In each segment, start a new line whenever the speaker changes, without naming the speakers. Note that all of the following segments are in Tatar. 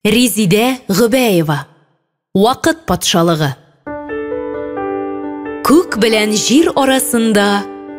Резидә Гөбәева. Вакыт патшалыгы. Күк белән җир арасында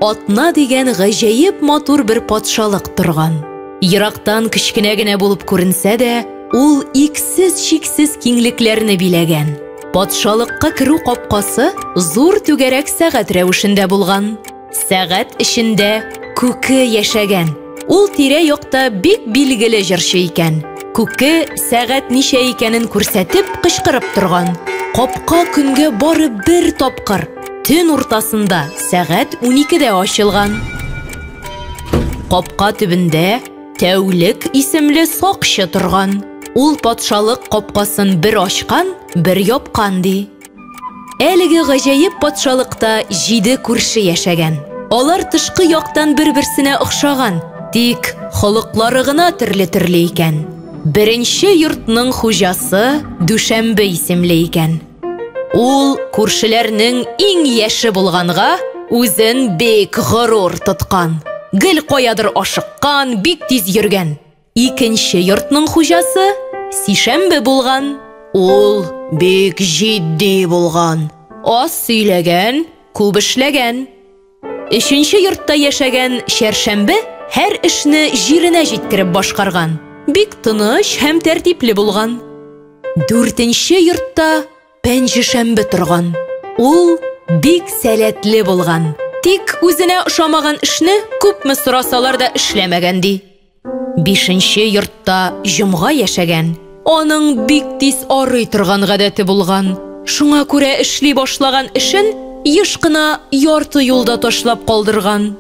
атна дигән гаҗәеп матур бер патшалык торган. Ерактан кечкенә генә булып күренсә дә, ул иксез-чиксез киңлекләрне биләгән. Патшалыкка керү капкасы зур түгәрәк сәгать рәвешендә булган. Сәгать эчендә күке яшәгән. Ул тирә-якта бик билгеле җырчы икән. Күке сәгать ничә икәнен күрсәтеп кычкырып торган. Капка көнгә бары бер тапкыр, төн уртасында сәгать уникедә ачылган. Капка төбендә Тәүлек исемле сакчы торган. Ул патшалык капкасын бер ачкан, бер япкан ди. Әлеге гаҗәеп патшалыкта җиде күрше яшәгән. Алар тышкы яктан бер-берсенә охшаган, тик холыклары гына төрле-төрле икән. Беренче йортның хуҗасы Дүшәмбе исемле икән. Ул күршеләрнең иң яше булганга, үзен бик горур тоткан. Гел каядыр ашыккан, бик тиз йөргән. Икенче йортның хуҗасы сишәмбе булган. Ул бик җитди булган. Аз сөйләгән, күп эшләгән. Өченче йортта яшәгән чәршәмбе һәр эшне җиренә җиткереп башкарган. Бик тыныч һәм тәртипле булган. Дүртенче йортта пәнҗешәмбе торган. Ул бик сәләтле булган. Тик үзенә ошамаган эшне күпме сорасалар да эшләмәгән ди. Бишенче йортта җомга яшәгән. Аның бик тиз арый торган гадәте булган. Шуңа күрә эшли башлаган эшен еш кына ярты юлда ташлап калдырган.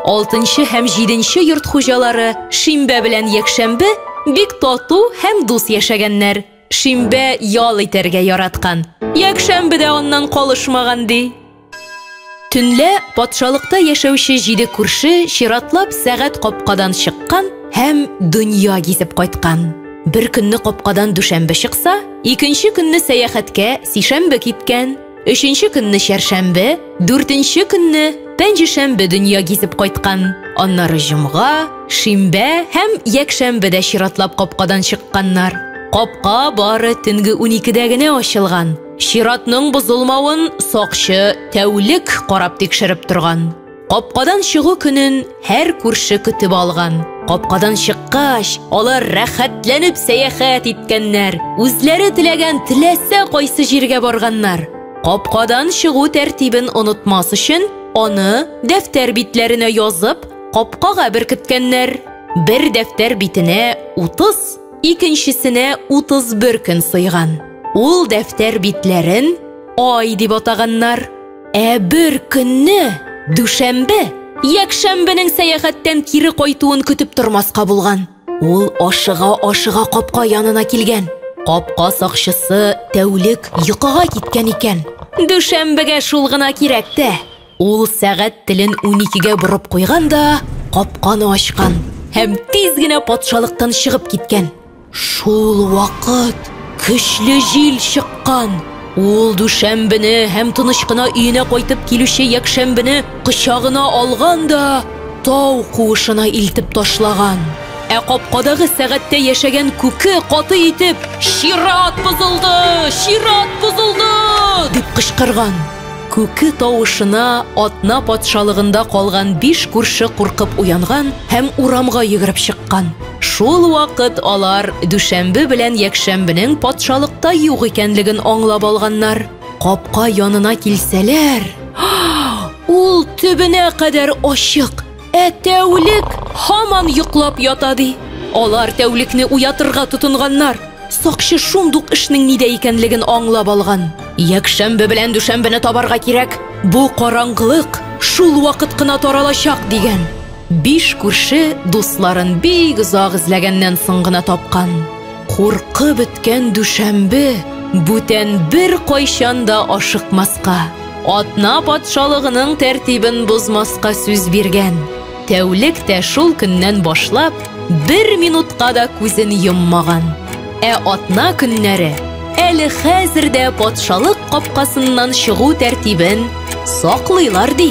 Алтынчы һәм җиденче йорт хуҗалары шимбә белән якшәмбе бик тату һәм дус яшәгәннәр. Шимбә ял итәргә яраткан. Якшәмбе дә аннан калышмаган, ди. Төнлә патшалыкта яшәүче җиде күрше чиратлап сәгать капкадан чыккан һәм дөнья гизеп кайткан. Бер көнне капкадан дүшәмбе чыкса, икенче көнне сәяхәткә сишәмбе киткән. Өченче көнне чәршәмбе, дүртенче көнне пәнҗешәмбе дөнья гизеп кайткан. Аннары җомга, шимбә һәм якшәмбе дә чиратлап капкадан чыкканнар. Капка бары төнге уникедә генә ачылган. Чиратның бозылмавын сакчы тәүлек карап тикшереп торган. Капкадан чыгу көнен һәр күрше көтеп алган. Капкадан чыккач, алар рәхәтләнеп сәяхәт иткәннәр. Үзләре теләгән теләсә кайсы җиргә барганнар. Капкадан чыгу тәртибен онытмас өчен, аны дәфтәр битләренә язып, капкага беркеткәннәр. Бер дәфтәр битенә 30, икенчесенә 31 көн сыйган. Ул дәфтәр битләрен Ай дип атаганнар. Ә бер көнне, дүшәмбе, якшәмбенең сәяхәттән кире кайтуын көтеп тормаска булган. Ул ашыга-ашыга капка янына килгән. Капка сакчысы тәүлек йокыга киткән икән. Дүшәмбегә шул гына кирәк тә. Ул сәгать телен уникегә борып куйган да капканы ачкан һәм тиз генә патшалыктан чыгып киткән. Шул вакыт көчле җил чыккан. Ул дүшәмбене һәм тыныч кына өенә кайтып килүче якшәмбене кочагына алган да тау куышына илтеп ташлаган. Ә капкадагы сәгатьтә яшәгән күке каты итеп «Чират бозылды! Чират бозылды!» дип кычкырган. Күке тавышына атна патшалыгында калган биш күрше куркып уянган һәм урамга йөгереп чыккан. Шул вакыт алар дүшәмбе белән якшәмбенең патшалыкта юк икәнлеген аңлап алганнар. Капка янына килсәләр, ул төбенә кадәр ачык, ә тәүлек һаман йоклап ята, ди. Алар тәүлекне уятырга тотынганнар. Сакчы шундук эшнең нидә икәнлеген аңлап алган. Якшәмбе белән дүшәмбене табарга кирәк, бу караңгылык шул вакыт кына таралачак, дигән. Биш күрше дусларын бик озак эзләгәннән соң гына тапкан. Куркы беткән дүшәмбе бүтән бер кайчан да ашыкмаска, атна патшалыгының тәртибен бозмаска сүз биргән. Тәүлек тә шул көннән башлап бер минутка да күзен йоммаган. Ә атна көннәре әле хәзер дә патшалык капкасыннан чыгу тәртибен саклыйлар ди.